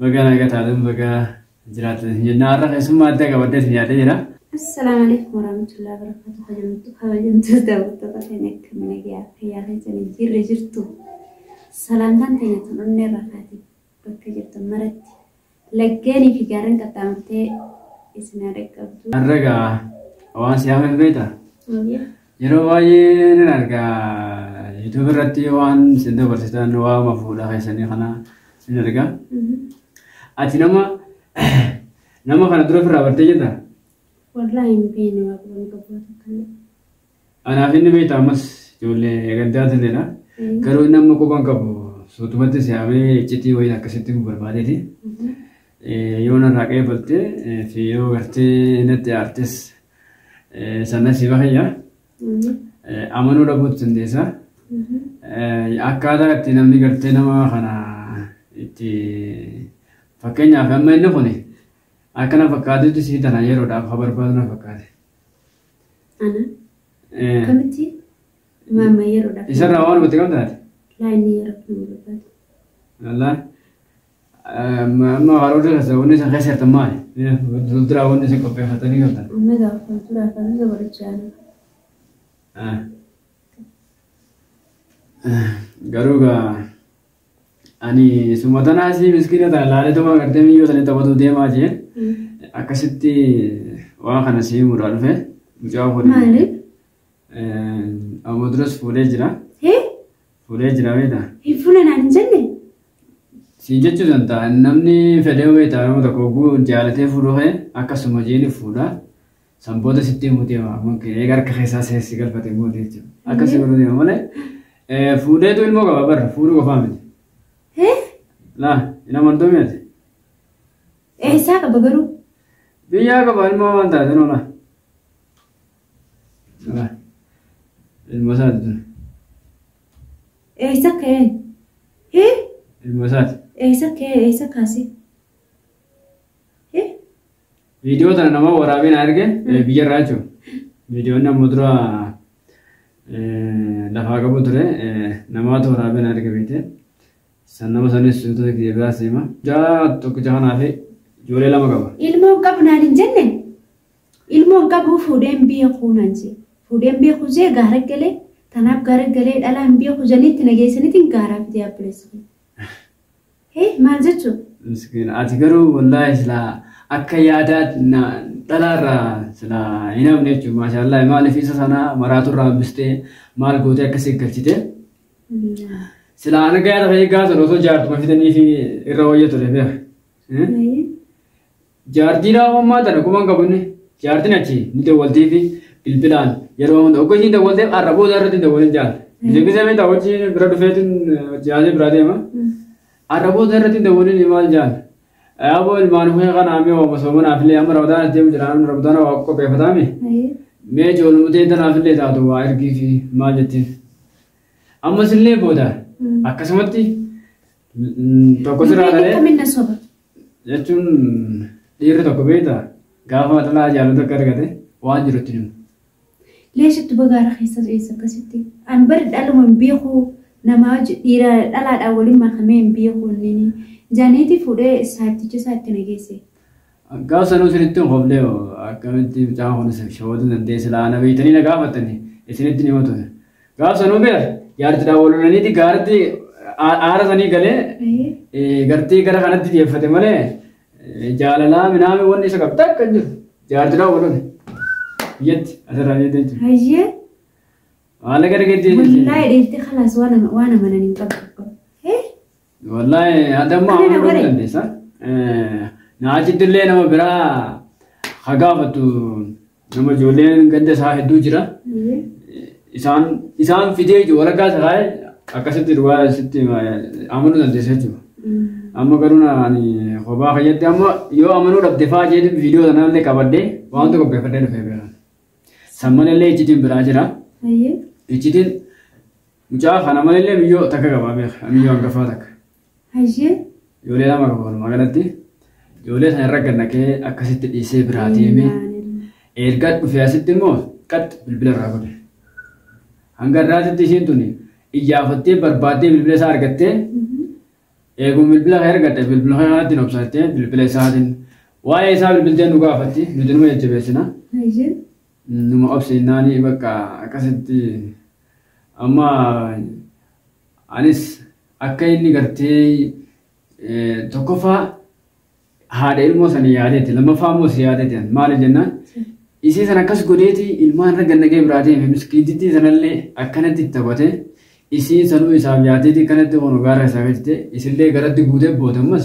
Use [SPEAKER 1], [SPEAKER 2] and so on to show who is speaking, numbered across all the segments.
[SPEAKER 1] Baga naga taatan baga jiraatan isin jenna. Har'a keessummaa addaa qabaddee isin yaadee jira. Assalaamu alaikum
[SPEAKER 2] warahmatullahi wabarakatuh. Kabajamtu kabajamtu daawwattoota keenya akka mana gahaa fayyaa keessanii jirre jirtu. Salaantaan keenya tun onnee irraa kaate bakka jirtan maratti laggeenii fi gaarreen qaxxaamurtee isin haa dhaqqabdu. Har'a gaa
[SPEAKER 1] waan siyaama hin beektaa? Maaliif? Yeroo baay'ee nan arga YouTube irratti waan isin dabarsitan waama fuudhaa keessanii kana nan arga. Ati nama nama kana dura ofirraa bartee jirta? Wallaahi
[SPEAKER 2] hin beekne waa qaban qabu takka. Anaaf
[SPEAKER 1] inni beekta ammas ijoollee gaddaa turedha. Garuu inni amma quban qabu suutumatti siyaamee iccitii wayii akkasitti nu barbaadeeti. Yoo narraa qeebaltee fi yoo gartee natti aartes Sana si bahayya. Amanuu dhabuutu dandeessa. Akkaataa itti namni gartee nama kana itti fakkeenyaaf amma inni kun akka na fakkaatutti sii tana yeroodhaaf ha barbaadu na fakkaate. Ana Eh,
[SPEAKER 2] akkamitti maama yeroodhaaf Isarraa waan walitti qabdaati. laa
[SPEAKER 1] inni yeroodhaaf na
[SPEAKER 2] barbaadu. Lallaa.
[SPEAKER 1] Amma amma warroota keessaa wanni isin keessa jirtan maali? Fuulduraa wanni isin qopheeffatanii jirtan. Wanni gaafatan ture
[SPEAKER 2] afaan isa barachaa
[SPEAKER 1] jiru. Ah. Ah, Garuu gaa ani suma tanaa si miskiina tana laalituma gartee miyyoo sanii taphatu deemaa jee akkasitti waan kana si himuudhaa dhufe mucaa kun Maali?
[SPEAKER 2] Amma
[SPEAKER 1] duras fuudhee jira. Hee? Fuudhee jira beektaa? Hin fuula
[SPEAKER 2] naan hin jenne? Si
[SPEAKER 1] jechuu danda'a namni fedhee beektaa nama tokko oguu jaalatee fuudhuu kee akkasuma jeeni fuudha. San booda sitti himuu deema ammoo kee eega harka keessaa seessi galfate immoo jechuudha. Akkasii godhuu deema malee eh, fuudheetu ilmoo qaba barra fuudhuu qofaa miti. Hee? Laa hin amantuu miti.
[SPEAKER 2] Eessaa qaba garuu? Biyyaa
[SPEAKER 1] qaba ilmoo waan taate noolaa. Salah. Ilma isaati ture. Eessa
[SPEAKER 2] ka'een? Hee?
[SPEAKER 1] Ilma isaati. Eessa ka'ee? Eessa
[SPEAKER 2] kaasee?
[SPEAKER 1] Hee? Viidiyoo tana nama waraabee na erge eh, biyya irraa jechuudha. Viidiyoon amma dura eh, lafaa qabu ture eh, namaatu waraabee na erge beekte. San nama sanis suutota kiyya biraa seema. Jaa tokkicha kanaa fi ijoollee lama qaba. Ilmoo qabnaan hin
[SPEAKER 2] jenne? Ilmoo hin qabuu fuudhee hin beeku naan jee. Fuudhee hin beeku jee gaara galee tanaaf gaara galee dhalaa hin beeku janii itti na geessaniitiin gaaraa fidee abboleessi kiyya. Hee maal jechuu? Miskiina ati
[SPEAKER 1] garuu wallaahi silaa akka yaadaa na- dhalaarraa silaa hin hafne jechuudha maashaallah maaliif isa sana maraaturraa hambistee maal gootee akka si galchite silaa ana gaara ta'ee gaafa sana osoo jaartuma fidanii fi irra wayya ture beeka. Eh? Ayii. Jaartii naa mammaa tana guman qabune jaartin achi ni dawwaltiifi bilbilaan yeroo hunda ogga ishiin dawwalteef arra booda irratti hin dawwalin jaal. Deebisee beektaa hojii bira dhufeetin jaazee biraa deema. Arra booda irratti hin dawwalin maal jaal. Yaaboo ilmaan kee kana amee waama soomanaaf illee amma ramadaan as deemu jira amma ramadaan waa qopheeffataa mee. Mee ijoolumutee tanaaf illee taatu waa ergiifi maal jettiin. Ammas illee booda akkasumatti tokko siraa dhalee. Kamina soba.
[SPEAKER 2] Jechuun
[SPEAKER 1] dhiirri tokko beekta gaafa xalaa jaalatu akka argate waan jiru itti himu. Leeshatti
[SPEAKER 2] bagaa rakeessa eessa akkasitti. An bari dhaluma hin beeku nama wajji dhiira dhalaadhaan waliin makamee hin beeku inni jaaneetii fuudhee saatticha isaatti na geesse. Gaaf sanuu isinitti hin hoflee
[SPEAKER 1] akkamitti mucaan kun isin shawaduu dandeessi laana beektanii na gaafattanii isinitti hin himatu. Gaaf sanuu beer jaartidhaan wal lolaniiti gaarti aara sanii galee gartii gara kanatti xiyyeeffate malee jaalalaa minaamee wanni isa qabda akka hin jiru jaartidhaan wal lole biyyatti asirraa biyyatti jechuudha. Hayyee. Maallaqa argattee jechuudha. Wallahi dheeftee kalaas
[SPEAKER 2] waan amananii hin qabu.
[SPEAKER 1] Wallahi adamma Mana amanuu bare. dandeessa. Na achitti illee nama biraa ha gaafatu nama ijoolleen ganda isaa hedduu jira. Isaan isaan fidee jiru walakkaa isa taa'e akkasitti duwwaa sitti amanuu dandeessa jechuudha. Amma garuu na ani kophaa fayyadde amma yoo amanuu dhabde fa'aa jedhu viidiyoo sana illee qabadde waan tokko beekadde dhufee beekan. Samman illee iccitiin biraa jira. Iccitiin Mucaa kana malee miyyoo takka qabaa beeka. Miyyoo hangafaa takka. Hayyee. Ijoollee lama qaba walumaa galatti. Ijoollee sana irra gannaqee akkasitti dhiisee biraa deeme. Erga dhufee asitti immoo qaxxi bilbila irraa godhe. Hanga irraatitti ishiin tuni iyyaafattee barbaaddee bilbila isaa argattee eeguu bilbila kan argatte bilbila kanatti hin obsattee bilbila isaatiin waa'ee isaa bilbilteen nu gaafatti nuti numa jajjabeessina. Hayyee. Numa obse jennaani bakka akkasitti amma anis akka inni gartee tokkoffaa haadha ilmoo sana yaadeeti lammaffaa immoo si yaadeeti maali jennaan isii sana akkas godheeti ilmaan irra gannagee biraa deeme miskiitittii sanallee akkanatti itti taphate isiin sanuu isaaf yaadeeti akkanatti hono gaara isaa gajite isillee garatti guutee boote ammas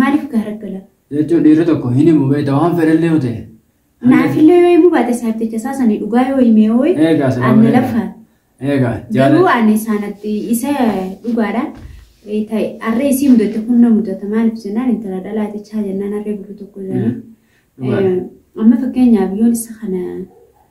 [SPEAKER 2] Maaliif gaaraggala? Jechuun dhiirri tokko
[SPEAKER 1] hin himu beekta waan fedhallee yoo ta'e. Naafillee yoo
[SPEAKER 2] himuu baate isaaf jecha isaa sanii dhugaa yoo himee hooyi Eegaa sababa anna eegaa. lafa. Eegaa Garuu jaalala. ani isaanatti isa dhugaadha. Eh, ta'e harree isii mudate kun na mudata maaliif jennaan intala dhalaate chaa jennaan harree gurri tokko jedhanii. Dhugaadha. Eh, Amma fakkeenyaaf yoon isa kana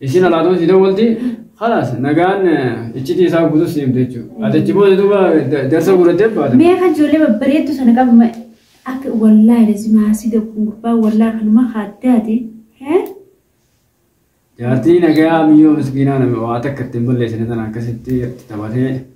[SPEAKER 1] Isiin alaatuma sii dawwalti khalaas nagaan iccitii isaa guutuu sii himte jechuudha. Ati achi booda duuba jarsa guurattee baata. Mee kan ijoollee babbareeddu
[SPEAKER 2] sana qabu akka wallaahi lazimaa si gabbun gurbaa wallaahi kanuma haaddaati.
[SPEAKER 1] Jaartii nagaa miyyoo miskiinaa nama waa takka ittiin balleessine tana akkasitti taphatee.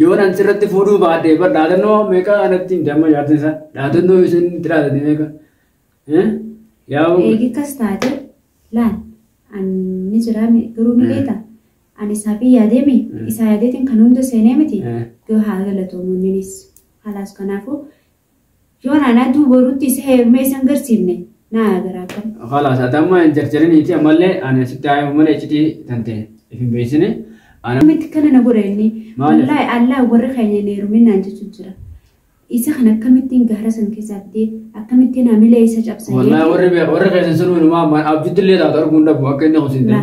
[SPEAKER 2] Yoon an sirratti
[SPEAKER 1] fuudhuu baadhee bar dhaadannoo meeqa anatti himte amma jaartin isaa dhaadannoo isheen itti dhaadate meeqa. Yaa'u. Eegi kas
[SPEAKER 2] taate laal ani jiraame garuu ni beekta ani isaa fi yaadeemi isaa yaadeetiin kan hunda seenee miti yoo haa galatoomu inninis halaas kanaafuu Yoon anatu borutti isa heerumee isa hin garsiifne naa yaa garaa kan. Khalaas ati amma hin
[SPEAKER 1] jarjariniiti ammallee ani asitti haa himu malee iccitii tante if hin beeksine. Ana Akkamitti kana na godha inni
[SPEAKER 2] Maaliif? wallaahi allah warri keenya hin heerumin naan jechu jira. Isa kana akkamittiin gaara san keessaa fidee akkamittiin hamilee isa cabsa wallaahi warri beeku warri
[SPEAKER 1] keessan sun hundumaa abjuttillee taatu arguu hin dhabu akka inni kusin ta'e.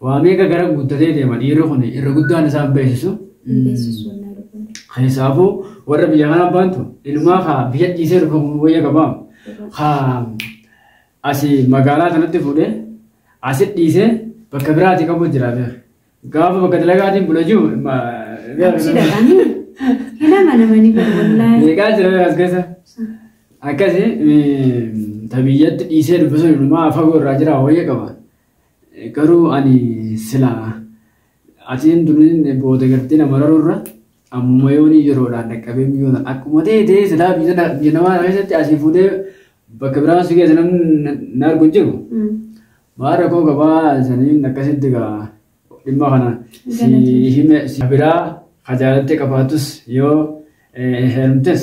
[SPEAKER 2] Waa meeqa gara
[SPEAKER 1] guuttatee deema dhiirri kun irra guddaan isaa hin beeksisu.
[SPEAKER 2] Hin beeksisu wannaa dhufuun.
[SPEAKER 1] Keessaafuu warra biyya kanaa baantu ilmaa kaa biyya dhiisee dhufe kun wayya qabaa. Kaa asii magaalaa sanatti fuudhee asi dhiisee bakka biraati qabu jira beeku. Gaafa bakka dalagaatiin bula jiru Absi
[SPEAKER 2] dhaqanii hin amanamanii bara wallaahi. meeqaa jira beeku as keessa.
[SPEAKER 1] Akkasi tabiyyatti dhiisee dubbisuun ilmaa fagoo irraa jira wayya qaba. Garuu ani silaa atiin duniin booda gartee na mararuu irra ammuma yoonii yeroodhaan dhaqqabee miyoona akkuma ta'e ta'ee silaa biyya na- biyya namaa kana keessatti asii fuudhee bakka biraa si keessa namni na- na argu hin jiru. Maal rakkoo gabaa saniin akkasitti gaa dhimma kana si Galatoomsa. hime si biraa hajaalatti qabaatus yoo eh, heerumtes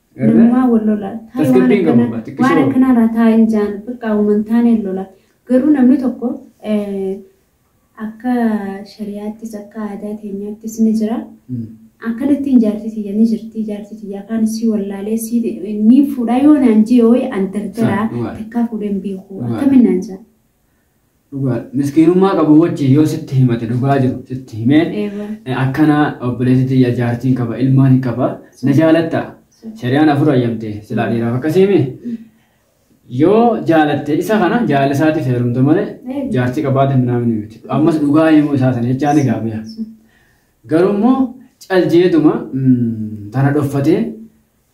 [SPEAKER 2] Namumaa wal lola. Taa'ee waan akkanaa waan akkanaa irraa taa'ee hin jaan bakka uuman taaneen lola. Garuu namni tokko akka shariyaattis akka aadaa keenyaattis ni jira. Akkanattiin jaartii tiyya ni jirti jaartii tiyya afaan isii wallaalee isii ni fuudhaa yoo naan jee wayii an dardaraa takkaa fuudheen beeku akkamiin naan jaa. Dhugaadha. Miskiinummaa
[SPEAKER 1] qabu wajjin yoo sitti himate dhugaa jiru sitti himeen Eeyyee. eh, akkana obboleessi tiyya jaartiin qaba ilmaan hin qaba na jaalatta shari'aan afur ayyamte silaa dhiiraaf akkasiimi yoo jaalatte isa kana jaalala isaatiif heerumte malee Eeyyee. jaartii qabaate minaamni miti ammas dhugaa himuu isaa sana jechaa ni gaabbiya garuu immoo caljeetuma mm, tana dhoffatee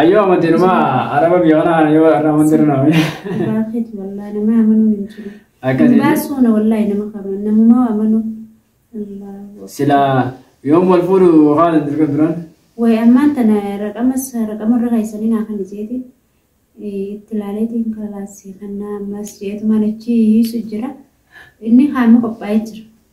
[SPEAKER 1] Ayyoo amantiin ma araba biyya kanaa kana yoo irraa amantiin irraa amanee. Dhugaa keeti
[SPEAKER 2] wallaahi nama amanuun hin jiru. Akkasii. Hin baasuuna wallaahi nama qaban namumaa amanuun. Allaahu. Sila
[SPEAKER 1] yoom wal fuudhu haala hin dirqan turan. Way ammaan tana
[SPEAKER 2] raqamas raqama irra keessanii naa kan jeeti. Itti ilaaleetiin kalaasii kannaa ammas jeetumaan achi hiisu jira. Inni haami qophaa'ee jira.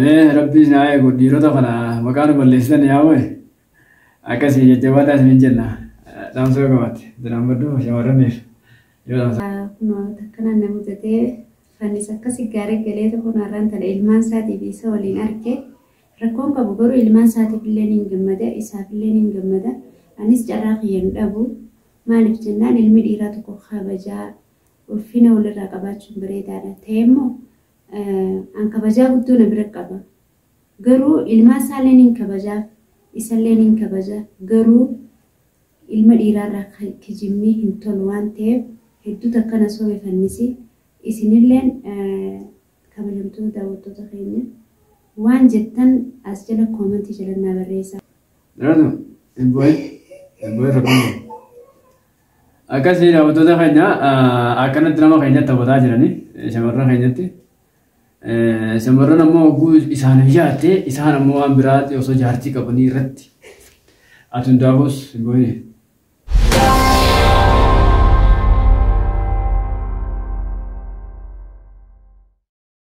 [SPEAKER 1] Mee rabbi isin haa eegu dhiirota kana maqaa nu balleessitan yaa wayi akkasii jajjabaadhaa isinin jenna dhaamsa yoo qabaatte diraambaddu shamarraniif yoo dhaamsa. Kunoo takkanaan na
[SPEAKER 2] mudatee fannis akkasi gaarii galee tokko naarraan tana ilmaan isaatii fi isa waliin arge rakkoon qabu garuu ilmaan isaatiif illee niin gammada isaaf illee niin gammada anis carraa kiyya hin dhabu maaliif jennaan ilmi dhiiraa tokko kabajaa ulfina walirraa qabaachuun bareedaadha ta'e immoo An kabajaa guddoo na bira qaba. Garuu ilmaan isaallee nin kabajaaf, isallee nin kabaja. Garuu ilma dhiiraarraa kijibni hin tolu waan ta'eef hedduu takka na sobe fannisi. Isinilleen kabajamtoota daawwattoota keenya waan jettan as jala koomentii jala naa barreessaa. Dhalatu,
[SPEAKER 1] Ebboy, Ebboy Rabbiin. Akkasii daawwattoota keenya akkanatti nama keenyatti taphataa jiranii shamarran keenyatti. Shamarran ammoo hogguu isaaniif yaatte isaan ammoo waan biraatti osoo jaartii qabanii irratti ati hundaafus goone.